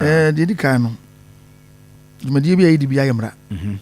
Eh, deɛ di kan no, dwumadie bi a yɛdi bi ayɛ mmara. Mhm.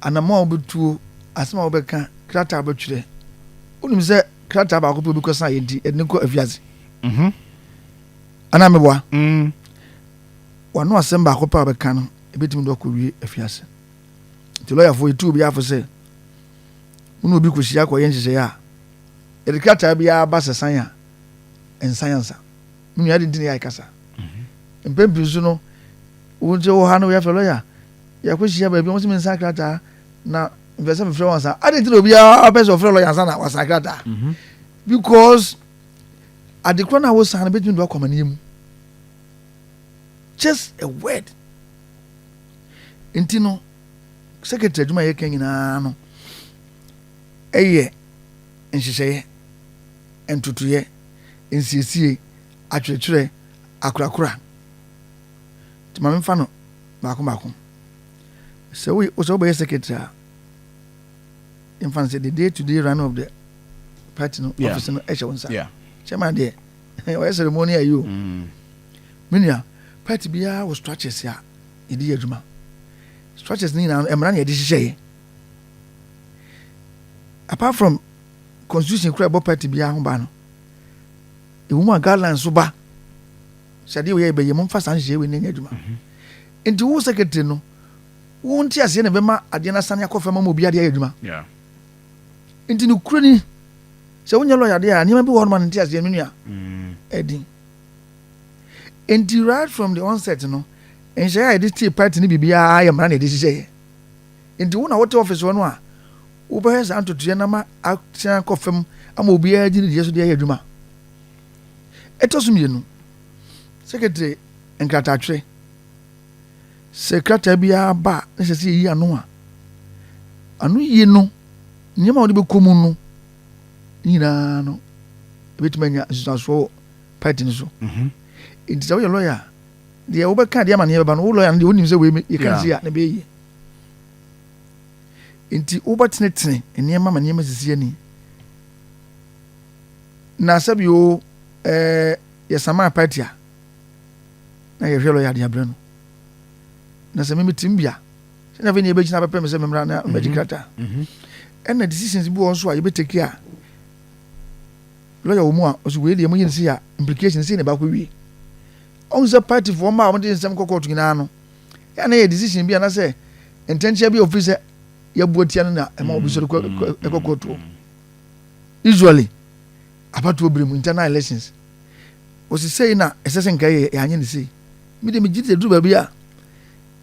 Anamɔ a wobɛtuo, asɛm a wobɛka, krataa a wobɛtwerɛ. Wonim sɛ krataa baako pɛ wobɛkɔ sa yɛ nti, ɛde ne kɔ afiase. Mhm. Anaa meboa? Mm. Wano asɛm baako pɛ a wobɛka no, ɛbɛtumi de wakɔwie afiase. Nti lɔyafoɔ yɛtu obi afo sɛ, wo ne obi kɔhyia kɔyɛ nhyehyɛeɛ a, yɛde krataa biara ba sɛ san a, ɛnsan ansa. Me nua de ntini ayɛ kasa. Mpɛn pii nso no, wo nti wɔ ha no yɛafrɛ lɔya, yɛakɔhyia baabi, wɔn sɛ mensan krataa na mepɛ sɛ mefrɛ wɔn saa. Ade nti na obiara pɛ sɛ ɔfrɛ lɔya ansa na wasan krataa. Mhm. Because adekorɔ no a wosan no bɛtumi de wakɔ amaneɛ mu. Just a word. Nti no, secretary adwuma a yɛka nyinaa no, ɛyɛ nhyehyɛeɛ, ntotoeɛ, nsiesie, akyerɛkyerɛ, akorakora. Nti ma memfa no baako baako. Sɛ woyɛ sɛ wobɛyɛ secretary a, yɛmfa no sɛ the day to day running of the party no yeah. office no ɛhyɛ wo nsa. Yeah. Chairman deɛ ɔyɛ ceremony ayi o. Mm. Me nua party biara wɔ structures a yɛde yɛ adwuma. Structures no nyinaa mmara na yɛde hyehyɛ yɛ. Apart from constitution kura ɛbɔ party biara ho ba no ɛwɔ mu a guidelines so ba sɛ adeɛ wɔyɛ bɛyɛ momfa saa nhyehyɛ wei nyɛ adwuma mhm. nti wo secretary no wo nte aseɛ na ɛbɛma adeɛ no asane akɔ fam ama obi adeɛ ayɛ adwuma nti no kuro ni sɛ wonyɛ lɔya deɛ a nneɛma bi wɔ hɔ noma no nte aseɛ no nua mm. ɛdin nti right from the onset no nhyɛeɛ a yɛde tie party no biribiara yɛ mmara na yɛde hyehyɛeɛ Enti wo na wote office hɔ no a, wobɛhwɛ saa ntotoeɛ no ama asan akɔ fam ama obiara di ne deɛ so de ayɛ adwuma. Ɛtɔ so mmienu, sekretary nkrataatwerɛ. Sɛ krataa biara ba a, na sɛ sɛ yɛyi ano a, ano yie no, nneɛma a wɔde bɛkɔ mu no nyinaa no, ɛbɛtumi anya nsusuasoɔ wɔ party no so. Mhm. Nti sɛ woyɛ lawyer a, deɛ wobɛka deɛ amaneɛ bɛba no wo lɔya no deɛ wonim sɛ wei yɛka ne sɛ a na ɛbɛyɛ yie nti wobɛtenetene nneɛma ma nneɛma sisi ani na sɛbi o ɛɛ yɛsama party a na yɛhwɛ lɔya de abrɛ no na sɛ meme tim bia sɛnea afei ne yɛbɛgyina bɛpɛ me sɛ memmra na mɛgye krataa ɛna decisions bi wɔ nso a yɛbɛtaki a lɔya wɔ mu a ɔsɛ wei deɛ moyɛ no sei a implication sei na ɛbaakɔ wie Ɔhu sɛ party foɔ mmaa a wɔde nsɛm kɔ court nyinaa no, yɛ na yɛ decision bi anasɛ ntɛnkyea bi a ofiri sɛ yɛbu atia no na ɛma obi sɔre kɔ court wɔ. Usually, abatoɔ bere mu, internal elections, wɔsi sei na ɛsɛ sɛ nka yɛ yɛanyɛ ne sei. Me de megye sɛ duru baabi a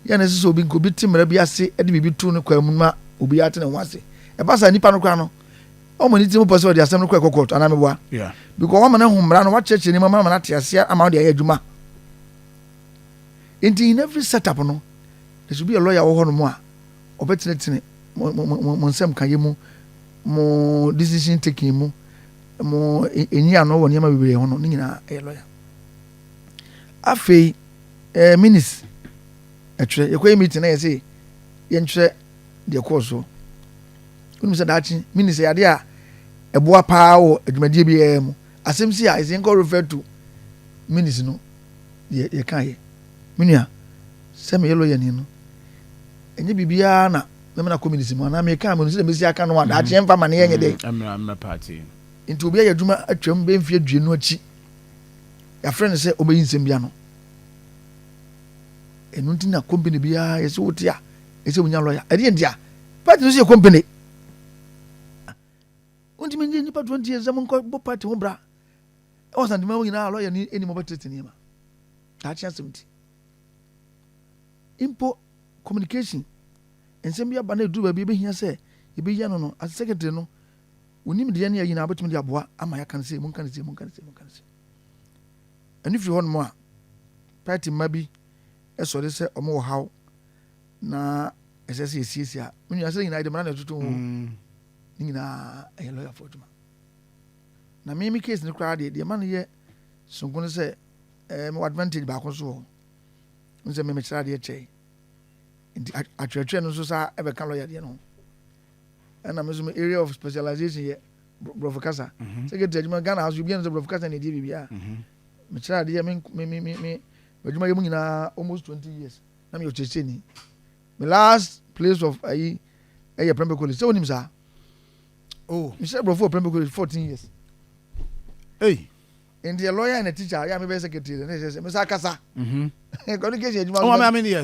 yɛ na ɛsɛ sɛ obi nka obi te mmara bi ase de biribi to ne kwan mu ma obi ate ne ho ase. Ɛba saa nipa no koraa no, Ɔma ne tirim pɔ sɛ ɔde asɛm no kɔ ɛkɔ kɔɔto anaa meboa. Yeah. Because wama no ahu mmara no, wakyerɛkyerɛ ne mu ama no ate aseɛ ama no de ayɛ adwuma. Nti in every setup no, there should be a lawyer wɔ hɔ no mu a ɔbɛtenetene mo mo mo mo nsɛm ka yɛ mu, mo decision taking mu, mo e, enyi ano wɔ nneɛma bebree ho no, ne nyinaa ɛyɛ lawyer. Afei ɛɛ eh, minis ɛtwerɛ yɛkɔyɛ meeting na yɛsɛ yɛntwerɛ deɛ ɛkɔɔ so wonim sɛ daakye mini sɛ yadeɛ a ɛboa paa wɔ adwumadie biara mu asɛm si a ɛsɛ nkɔ refer to minis no deɛ yɛka yɛ me nua sɛ meyɛ lɔyɛ ni no ɛnyɛ biribiara na mɛmɛ na kɔ minis mu anaa meka menu sɛ mɛsi aka no a daakye mm. ɛmfa ma ne yɛnyɛ dɛ mm, nti obi ayɛ adwuma atwam bɛmfi adwie no akyi yɛafrɛ no sɛ ɔbɛyi nsɛm bia no ɛno nti na company biara yɛsɛ wote a ɛsɛ wonya lɔya ɛdeɛ nti a party no sɛ yɛ company wontumi nye nnipa 20 years sɛ monkɔbɔ party ho bra ɛwɔ asantema hɔ nyinaa lɔya ni anim ɔbɛtete nneɛma daakye asɛm nti mpo communication nsɛm bi aba na ɛduru baabi ɛbɛhia sɛ yɛbɛyia no no as secretary no wonim deɛ ne ayina wobɛtumi de aboa ama yɛaka no sɛ monka no sɛ monka no sɛ monka no sɛ ɛno firi hɔ nom a party mma bi ɛsɔre sɛ ɔmo wɔ haw na ɛsɛ sɛ yɛsiesie a me nua sɛ nyinaa yɛde mmara na ɛtoto ho mm. ne nyinaa ɛyɛ lɔyafoɔ adwuma na me me case no koraa deɛ deɛ ma no yɛ sonko no sɛ ɛɛ mewɔ advantage baako so wɔ n sɛ memekyerɛ adeɛ kyɛe nti atwerɛtwerɛ no nso saa ɛbɛka lɔya deɛ no ho ɛna me nso me area of specialization yɛ borɔfo kasa mhm. sɛ kɛti adwuma ghana ha so obiara no sɛ borɔfo kasa na ɛdeɛ biribiaa mhm. mekyerɛ adeɛ me me me me adwuma yɛ mu nyinaa almost twenty years Na meyɛ ɔkyerɛkyerɛni. Me last place of ayi ɛyɛ Prempeh College. Sɛ wonim saa? Oh. Mehyɛ Brɔfo wɔ Prempeh College 14 years. Hey. Nti yɛ lawyer and a teacher, yɛ a mebɛyɛ secretary, na ɛsɛ sɛ mesa kasa. Mm-hmm. Communication adwuma. Oh, I mean, yes.